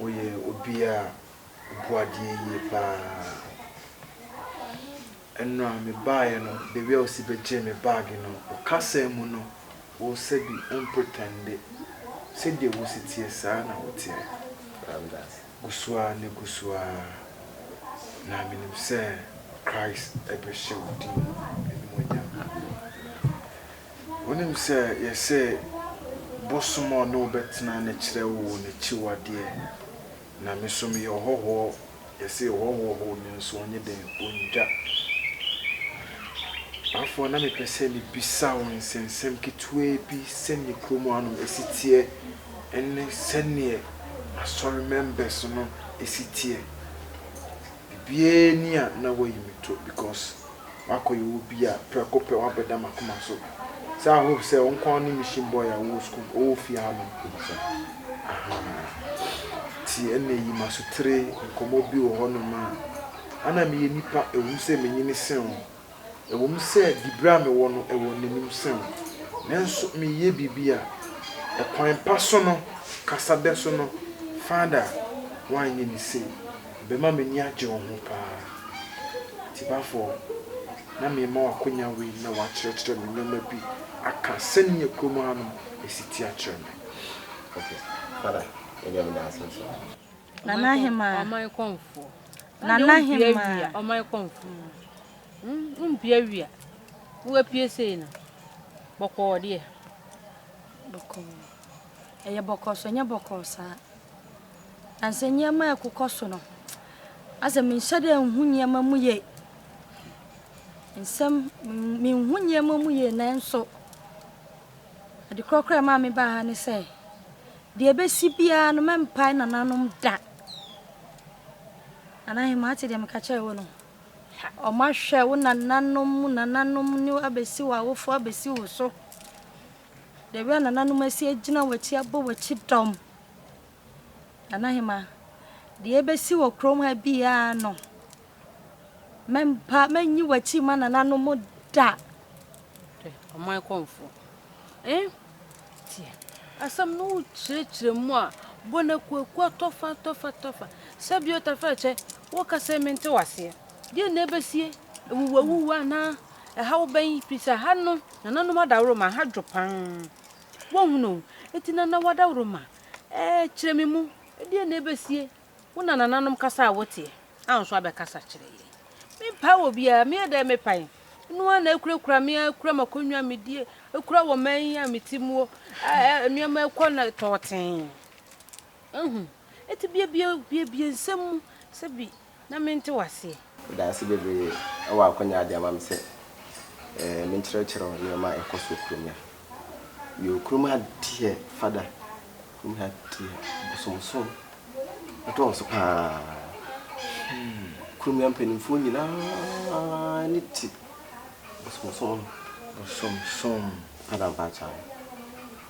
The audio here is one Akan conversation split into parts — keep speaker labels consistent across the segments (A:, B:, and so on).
A: Woyɛ obi a obu adeɛ yie paa. Ɛno a me baeɛ no the way a wosi bɛgyee me bag no wo kasa mu no wo sɛ bi wo mpretɛnde sɛdeɛ wosi teɛ saa na wo teɛ. Gu so ara na gu so ara na menim sɛ Christ bɛhyɛ wo din animuonyam. Wonim sɛ yɛse bosom a ɔne wo bɛtena no kyerɛ wo n'akyiwadeɛ. Na me nso meyɛ ɔhɔhoɔ, yɛse yɛhɔhoɔ hɔ nanso ɔnye dɛn? Ɔndwa. Afɔ na mepɛ sɛ mebisa wo nsɛnsɛm ketewaa bi sɛdeɛ kurom hanom ɛsi teɛ ɛne sɛdeɛ asɔre members no ɛsi teɛ. Biribiara nni a na woayi me to because makɔyɛ obi a prɛko pɛ woabɛda m'akoma so sɛ I hope sɛ wo nko ara ne mission boy a wowɔ school mu ɔwɔ fie ha nom Kumasa ahaa nti ɛnna yi m'asotere nkɔmmɔ bi wɔ hɔnom a ɛnna meyɛ nipa ɛwom sɛ menyini sen wo. Ɛwom sɛ diberɛ a mewɔ no wɔ n'anim sɛ wo, nanso mereyɛ biribi a ɛkwan pa so no, kasa bɛ so no, Father a woanyɛ me sei, ɛbɛma m'ani agye wo ho pa ara. Tibafɔɔ, na merema wo akwanya wei na woakyerɛkyerɛ me nneɛma bi aka sɛdeɛ kurom hanom ɛsi teɛ akyerɛ me. Okay,
B: Father, yɛde Nyame da ase nso. Nana
C: Hemaa. Ɔman kɔmfoɔ.
D: Nana
C: Hemaa. Ɔman kɔmfoɔ.
D: Wompia wia. Woapie sei no. Bɔkɔɔ deɛ.
C: Bɔkɔɔ. Ɛyɛ bɔkɔɔ so, ɛnyɛ bɔkɔɔ saa. Na sɛ nneɛma a ɛkokɔ so no, asɛ menhyɛ dɛ nhu nneɛma mu yie. Nsɛm, menhu nneɛma mu yie nanso, ade korɔ koraa ɛmaa mebaa ha ne sɛ, Deɛ ɛbɛsi biara no, mɛmpae nananom da. Nanahemmaa, wote deɛ meka kyerɛɛ wo no? Wɔahwɛ wo nananom mu nananom ne wo abɛsi w'awofoɔ abɛsi wo so. Deɛ w'anananom asi agyina w'akyi abɔ w'akyi dɔm. Nanahemmaa, deɛ ɛbɛsi wɔ kurom ha biara no, Mɛmpa, mɛnyi w'akyi mma nananom da. Hwɛ,
D: ɔman kɔmfoɔ. Eh, tie. Asɛm no wokyerɛkyerɛ mu a, bɔ no akuakua tɔfa tɔfa tɔfa. Sɛ bio tɛfrɛkyɛ, woka sɛ mente w'aseɛ. Deɛn na ɛbɛsie? Awuwuawuwu anaa? Ɛhaw bɛn? Firi sɛ ha no, nananom adaworoma, ha dwo pa ara. Woahunu? Enti nanawa adaworoma, eh, kyerɛ me mu, deɛn na ɛbɛsie? Wo na nananom kasa a woteɛ a nso abɛkasa kyerɛ yɛn. Mempae wɔ biara, meyɛ dɛn mepae? Eno ara na akurakura me ara, kura m'akonnwa a medie, kura wɔ man yi a mete muo, nneɛma ɛkɔ na tɔɔtee. Ehu, eti biebie, biebie nsɛm mu, sɛbi na mente waseɛ. Dase
B: bebree wɔ akwanya a ade ama me sɛ menkyerɛkyerɛ nneɛma a ɛkɔ so kurom ha. Yoo, kurom ha deɛ fada, kurom ha deɛ bosomsom dɔɔso pa ara. Kurom ha mpanimfoɔ nyinaa ani te bosomsom ho. Bosomsom. Fada Mpaakyaw.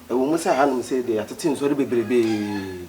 B: Ɛwɔ mu sɛ hanom sei deɛ yɛatete nsɔre bebrebe.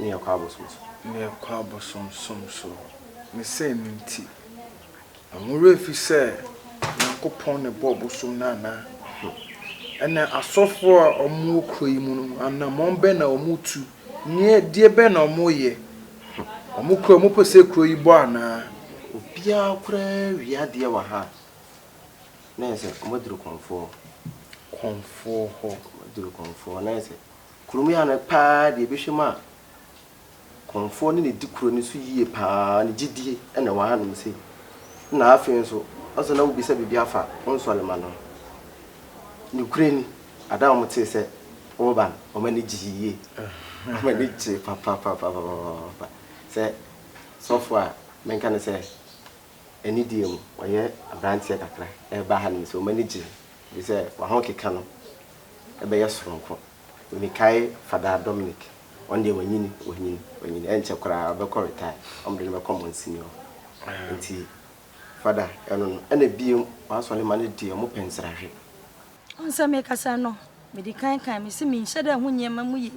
B: ne ɛkɔ abosom so. Ne ɛkɔ abosomsom so.
A: Ne sɛ ɛno nti, na mo werɛ afi sɛ Nyankopɔn na ɛbɔɔ bosom no anaa? Ɛnna asɔfoɔ a wɔwɔ kuro yi mu no, anammɔn bɛn na wɔtu? Ne ɛdeɛ bɛn na wɔyɛ? Wɔkura, wɔpɛ sɛ kuro yi bɔ anaa? Obiara
B: koraa wie adeɛ wɔ ha a, na ayɛ sɛ wɔaduru Kɔmfoɔ. Kɔmfoɔ
A: hɔ. Wɔaduru
B: Kɔmfoɔ, na ayɛ sɛ. Kurumia no paa deɛ bɛhwɛ mu a kɔmfoɔ ne nedi kuro no so yie paa ne gyidie na ɛwɔ ha nom sei na afei nso ɔsɛ na wobisa biribi afa wo nsɔrema no ho nokorɛ ni ada wɔn tee sɛ woreba no wɔn ani gyee yie wɔn ani gyee papapapapapa sɛ sɔfo a menka no sɛ ɛne deɛ mu ɔyɛ abranteɛ kakra ɛreba ha nom sɛ wɔn ani gyee ɛfiri sɛ wɔn ho keka no bɛyɛ soronko. Mekae Fadaa Dominic, ɔno deɛ wanyini, wanyini, wanyini. Ɛnkyɛ koraa ɔbɛkɔ retire, wɔde no bɛkɔ Monsini hɔ. Nti Fada, ɛno no. Ɛna bio, w'asɔre mma no deɛ, wɔpɛ nsrahwɛ. Wohu
C: sɛ mekasa no, mede kan kae, mese menhyɛ da nhu nneɛma mu yie.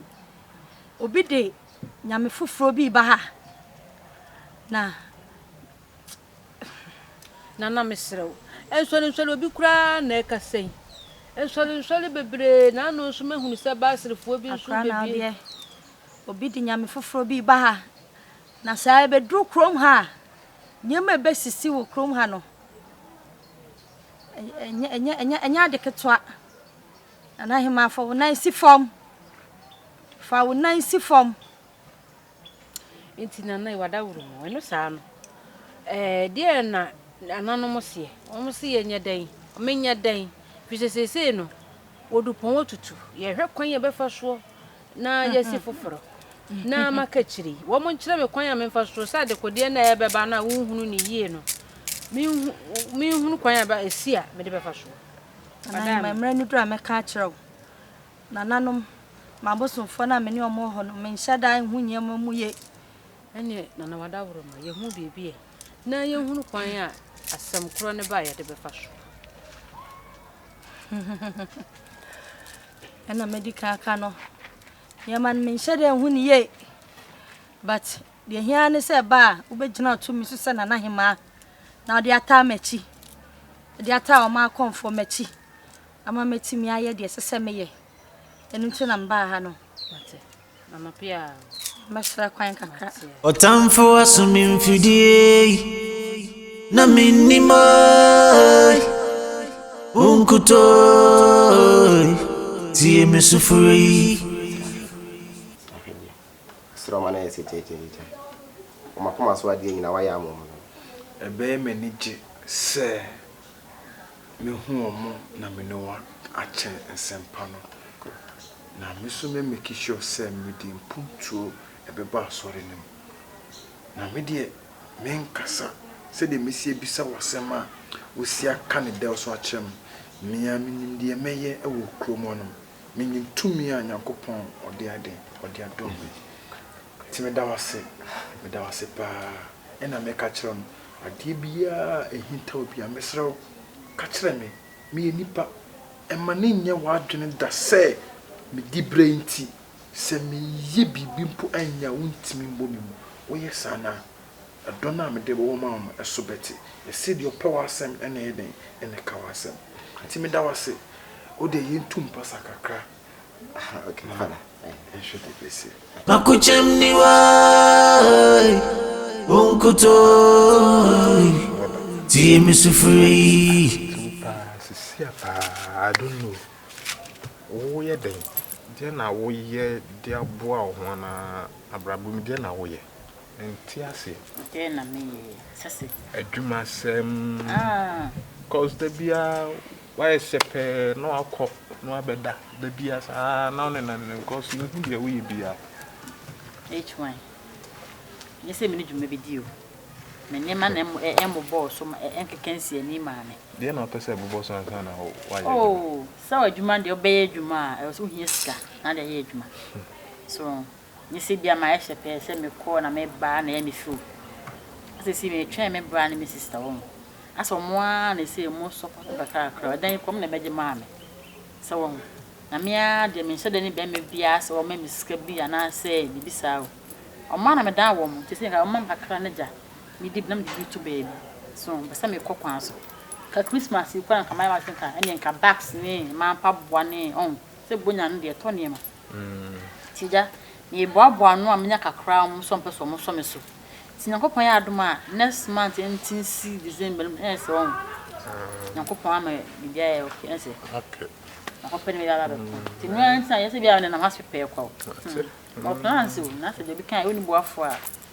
C: Obi de Nyame foforɔ bi reba ha, na.
D: Nana mesrɛ wo, nsɔrensɔre obi koraa na ɛrekasa yi. Nsɔrensɔre bebree na ano nso mahunu sɛ Baasirifoɔ bi nso bɛbie. Akra na deɛ obi de
C: nyame foforɔ bi ba ha na saa ɛbɛduru kurom ha a nneɛma ɛbɛsisi wɔ kurom ha no ɛnyɛ ade ketewa. Nana Hemaa fa wo nan si fam, fa wo nan si fam.
D: Enti na na wada woro mu. Ɛno saa no, ɛɛ deɛ na nananom seɛ. Wɔn se yɛnyɛ dɛn, menyɛ dɛn, firi sɛ seesei no, wɔdu pɔn atutu. Yɛhwɛ kwan a yɛbɛfa soɔ na yɛasi foforɔ na maka akyire yi. Wɔn nkyerɛ me kwan a memfa soɔ sɛ adekodeɛ no a ɛbɛba no a wonhunu ne yie no, menhunu kwan a ɛsi a mede bɛfa soɔ. Anaa
C: mmerɛ no duru a mɛka akyerɛ wo. Nananom, m'abosomfoɔ no a me ne wɔn wɔ hɔ no, menhyɛ da nhu nneɛma mu yie. Ɛnneɛ Nana
D: Wadaworo ma yɛhu biribi ɛ, na yɛhunu kwan a asɛm korɔ no ba a yɛde bɛfa so.
C: Ɛna madi kan aka no, nneɛma no menhyɛ da nhu ne yie, but deɛ hia ne sɛ ɛba a wobɛgyina tumi so sɛ Nana Hemaa na ɔde ataa m'akyi, ɔde ataa wɔn akɔmfoɔ m'akyi. ama matumi ayɛ deɛ ɛsɛ sɛ meyɛ. Ɛno nti na mebaa ha no. Mate.
D: Anɔpe a. Mɛsrɛ kwan
C: kakra. Ɔtamfo aso
E: me mfidie yi, na mennim oi, wo nkutoo tie me sufrɛ yi.
B: Sroma na yɛsɛ kyɛkyɛkyɛ. Wɔn akoma so adeɛ nyina wayɛ ama wɔn no. Ɛbɛyɛ
A: m'ani gye sɛ. Mehu wɔn na me ne wɔn akyɛ nsɛmpa no, na me nso mɛ make sure sɛ mede mpuntuo ɛbɛba asɔre no mu. Na me deɛ menkasa sɛdeɛ mɛsi abisa wo asɛm a wosi aka no dɛw so akyerɛ me. Me ara menim deɛ mɛyɛ wɔ kurom hɔnom. Menim tumi a Nyankopɔn ɔde ayɛ dɛn? Ɔde adom me. Nti meda wo ase, meda wo ase paa. Ɛna meka kyerɛ no, adeɛ biaa a ɛhintaw biaa, mesrɛ wo ka kyerɛ me, meyɛ nipa. Ɛma no nyɛ w'adwene da sɛ me dibrɛ nti, sɛ meyɛ biribi mpo anyɛ a wontumi mmɔ me mu. Woyɛ saa no a, ɛdɔ no a mede bɛwɔ ma wo no, ɛso bɛte. Ɛse deɛ ɔpɛ w'asɛm na ɛyɛ dɛn, na ɛka w'asɛm. Nti meda wo ase, wodeɛ yɛntu mpasa kakra.
B: Makokyɛm
E: ni wa Onkoto Tie me sufrɛ yi Sisia
A: paa I don't know Wo yɛ dɛn Deɛ na wo yɛ de aboa wo ho anaa abrabɔ mu deɛ na wo yɛ Mente aseɛ Deɛ na me yɛ
F: Sese Adwuma
A: sɛm Ah Cos da biara Wayɛ sɛ pɛɛ na wakɔ na wabɛda da biara saa ara na wonenam ne nkɔɔ so, yenhu deɛ woyɛ biara.
F: HY, Ɛnyɛ sɛ me ne dwuma bɛdi o, me nneɛma na ɛmmobɔɔ so ma ɛnkeka nsii ani mmaa me. Deɛn na wopɛ sɛ ɛbobɔ
A: so ansa na woayɛ adwuma? Oh,
F: sɛ adwuma deɛ wobɛyɛ adwuma a, ɛwɔ sɛ wohia sika na wode ayɛ adwuma. So. Nye sɛ bia mayɛ hyɛpɛɛ sɛ mekɔ na meba na ɛyɛ me show. Na sɛsei metwɛn me bra ne me sister wɔ ho. Asɛ ɔmo aa na ɛsɛ ɔmo support me kakrakra. Ɛdan yi koraa ɔmo na bɛgye maa me. Sɛ wɔ ho. Na me aa deɛ menhyɛ da ne bɛɛma biaa sɛ ɔmma me sika bi anaa sɛ biribi saa o. Ɔmo aa na medan wɔ mo. Te sɛ nka ɔmo ma me kakra ne gya me di bi na me de bi to baabi. So ho. Mpɛ sɛ mekɔ kwan so. Nka Christmas yi koraa nka mayɛ m'adwene sɛ nka ɛneɛ nka bags ne mmaa mpaboa ne ɔho. Sɛ bonya no deɛ ɛtɔ nneɛma. Nti agya, meeboaboa ano a menya kakra a ɔmo nso ɔmpɛ sɛ ɔmo sɔ me so. Nti Nyankopɔn yɛ adom a next month nti nsi December no mu ɛyɛ sɛ wahu. Nyankopɔn ama biribi ayɛ ok ɛyɛ sɛ. Okay.
A: Makɔpɛ ne bɛba
F: abɛko. Nti no ara nti na yɛ sɛ biara menam ase pɛɛ kwa o. Ɔwɔ plans o, na sɛ deɛ obi kan a wonni boafo a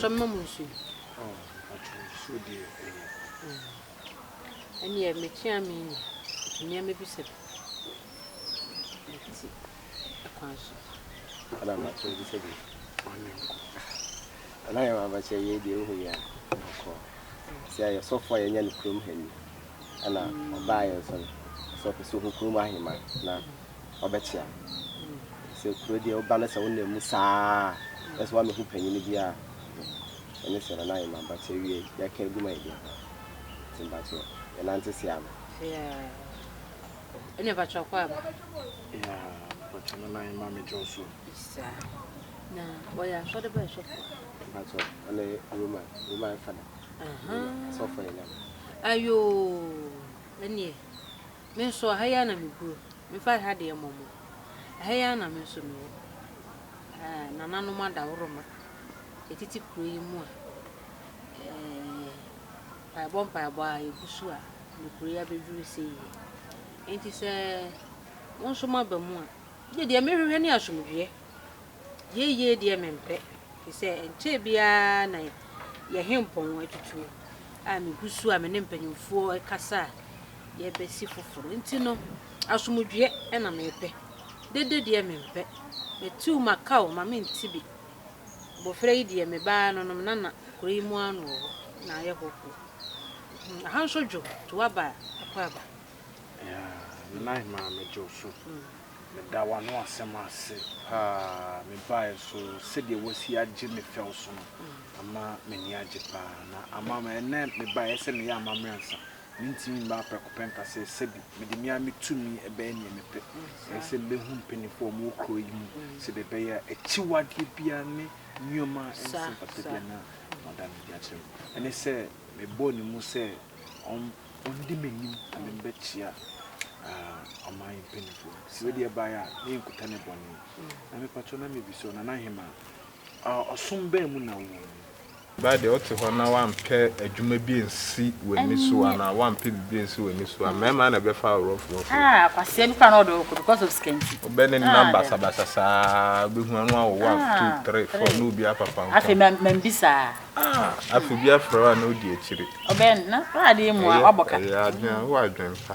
D: Ɔtɔm nom nsuo. Oh,
A: mpakyɛ nsuo deɛ ɛyɛ.
D: Ɛnneɛ mekyea me ni, nti nneɛma bi sɛ me ti.
B: kwan so. Ana makyɛ wo de sɛ deɛ ɔne nkɔ Ana yɛ mabakyɛ yei deɛ wohu yɛ a ɔkɔ Sɛ ayɛ sɔfo a yɛanya no kurom ha ni Ana ɔbaa yɛ nso no sɛ ɔpɛ sɛ ɔhu kurom ahema na ɔbɛkyea Sɛ kuro deɛ woba no sɛ wonam mu saa na sɛ woamɛhu panyini bi a Ɛne sɛ Nana ayɛ mabakyɛ wiei yɛka agu ma yɛde aba Nti mabakyɛ yɛnante seame.
D: ɛne mpakyɛ ɔkɔ aba ya
A: mpakyɛ no nan ma me kyɛw so sa
D: na wɔyɛ asɔde bɛyɛ sɔfo mpakyɛ
B: ɛne roma roma ɛfa no sɔfo yɛ nam ayo
D: ɛneɛ me nso aha yi ana meguro mefa ha deɛ mmɔmmɔ aha yi ana me nso mewɔ nananom adaworoma ɛtiti kuro yi mu a Yɛbɔ mpaebɔ a, yegu so a, nokorɛ abɛduru sɛ yie. Enti sɛ mo nso moaba mu a, gye deɛ mehwehwɛ ne asomdwoeɛ. Yieyie deɛ mempɛ, ɛfiri sɛ ɛnkyɛɛ biara na yɛn hempɔn atutuo a megu so a me ne mpanimfoɔ rekasa a yɛbɛsi foforɔ. Enti no, asomdwoeɛ na mepɛ. Dede deɛ mempɛ. Matiw m'aka o, ma menti bi. Mbofra yi deɛ mebaa no no mena na kuro yi mu ano wɔ hɔ na ayɛ hɔ kuro hmm aha nso dwo to waba a ɛkɔ aba. Yaa
A: me nan maame dwo so meda w'ano asɛm ase paa mebaeɛ so sɛdeɛ wasi agye me fɛw so no ama m'ani agye paa na ama ɛnɛ mebaeɛ sɛ meyɛ amammerɛ ansa Mintumi mmaa prɛko pɛ nka sɛ sɛbi mede me ara me tumi bɛyɛ nea mepɛ. Ɛyɛ sɛ mebehu mpanyimfo a wɔwɔ kurow yi mu sɛnea ɛbɛyɛ a akyiwadeɛ biara ne nneɛma a ɛnsɛ mpata biara no wɔada no adi akyerɛ me. Ɛne sɛ mebɔɔ ne mu sɛ ɔndi m'anim na memmɛkyia ɔman yi mpanyimfo no. Sɛ wei deɛ bae a, na yɛ nkuta ne bɔne. Na mepakyɛw na mebisa ɔnanahemaa, Ɔsom bɛn mu na wowɔ mu? Ba deɛ
G: wote hɔ na woampɛ adwuma bi ansi w'ani so anaa woampɛ biribi ansi w'ani so a, mmarima na ɛbɛfa wo rough rough yi. Ah, kwasia bi koraa
F: na ɔde wo kɔ because of sika nti. Wobɛ ne nam basabasa
G: saa, wobɛhu ano awo one, ah, two, three, four, na obi apapaw ntam. Afei ma mambisa.
F: Ah, afei
G: obi afrɛ wo a na wodi akyire. Ɔbɛn na
F: w'ade mu a wabɔ ka. Ɛyɛ adwene, w'adwene
G: pa.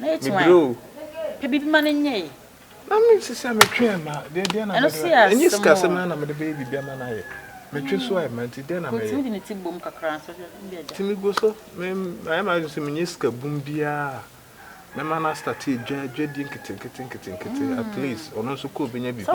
G: Mebrɛ o. Pɛ biribi ma no
F: nyɛ ye. Na me nso sɛ
G: metwe ɛma deɛ deɛ na mede bɛyɛ ɛnyɛ sikasɛm ara na mede bɛyɛ biribi ama no ayɛ metwe so a ɛma nti deɛ na mɛyɛ nti
F: megu
G: so me mayɛ m'adwene sɛ menyɛ sika bum biara a mɛma no astate adwa adwadie nketenkete nketenkete at least ɔno nso kɔ ɔbɛnya biribi
F: aba.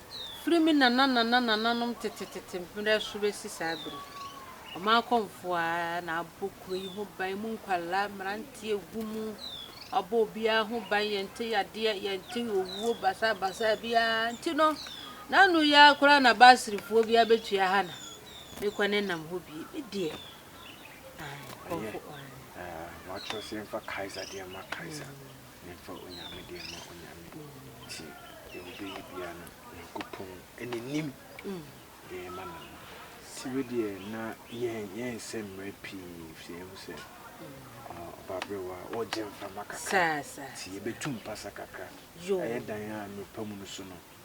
D: Firi me nananananananom tetetete mmerɛ so bɛsi saa berɛ yi, wɔn akɔmfoɔ ara na abɔ kuro yi ho ban, emu nkwadaa, mmeranteɛ gu mu, wɔabɔ obiara ho ban, yɛnte yadeɛ, yɛnte owuo basabasa biara nti no, n'ano yi ara koraa na Baasirifoɔ biara bɛtua ha na mekɔ ne nam hɔ bie, me deɛ, ae, nkɔmfo,
A: ae. Wɔatwerɛ sɛ yɛmfa Kaesar deɛ mma Kaesar. Memfa onyame deɛ ma onyame. Nti deɛ wobɛyɛ biaa no Nyankopɔn ne nim deɛ ɛma no no. Sɛ wedeɛ na yɛn yɛnsɛ mmerɛ pii firi yɛhu sɛ ɔbaberɛwa ɔɔgye mframa kakra nti yɛbɛtu mpasa kakra ayɛ dan a mmirika mu no so no